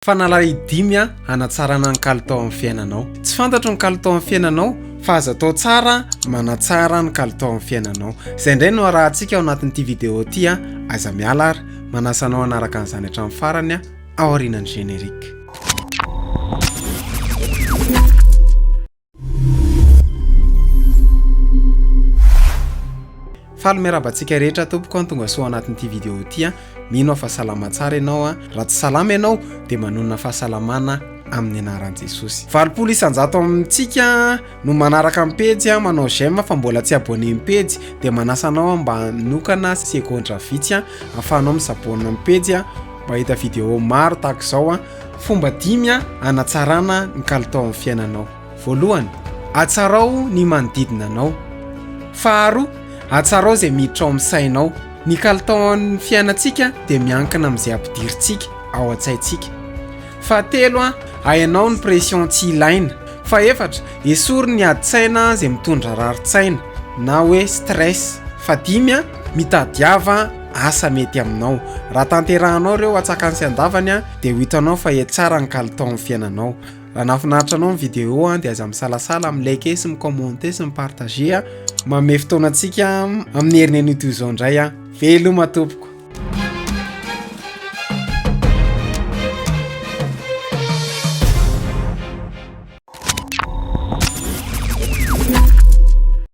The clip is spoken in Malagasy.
Fanalay dimy a hanatsarana ny kalitao amin'ny fiainanao. Tsy fantatro ny kalitao amin'ny fiainanao fa aza atao tsara manatsara ny kalitao amin'ny fiainanao. Izay indray no arahantsika ao anatin'ity vidéo ity a. Aza miala ary manasa anao hanaraka an'izany hatramin'ny farany a aorianan'ny générique. Faly miarahaba antsika rehetra tompoko an tonga soa anatin'ity vidéo ity an mino aho fa salama tsara ianao an raha tsy salama ianao dia manonona fahasalamana amin'ny anaran'i Jesosy valopolo isanjato amintsika no manaraka amin'ny pejy an manao j'aime fa mbola tsy abonné amin'ny pejy dia manasa anao an mba hanokana segondra vitsy an afahanao misabonina amin'ny pejy an mba hita vidéo maro tahaka izao an Fomba dimy hanatsarana ny kalitao amin'ny fiainanao. Voalohany, atsarao ny manodidina anao. Faharoa, atsarao izay miditra ao amin'ny sainao. Ny kalitaon'ny fiainantsika dia miankina amin'izay ampidirintsika ao an-tsaintsika. Fahatelo, ahenao ny pression tsy ilaina. Fahefatra, esory ny adin-tsaina izay mitondra rarin-tsaina na hoe stress. Fahadimy, mitadiava. asa mety aminao. Raha tanterahanao ireo atsakany sy andavany a, dia ho hitanao fa hetsara ny kalitaon'ny fiainanao. Raha nahafinaritra anao ny vidéo a, dia aza misalasala mi like sy mi commenter sy mi partager a, manome fotoana antsika amin'ny herin'anio toy izao indray a. Veloma tompoko.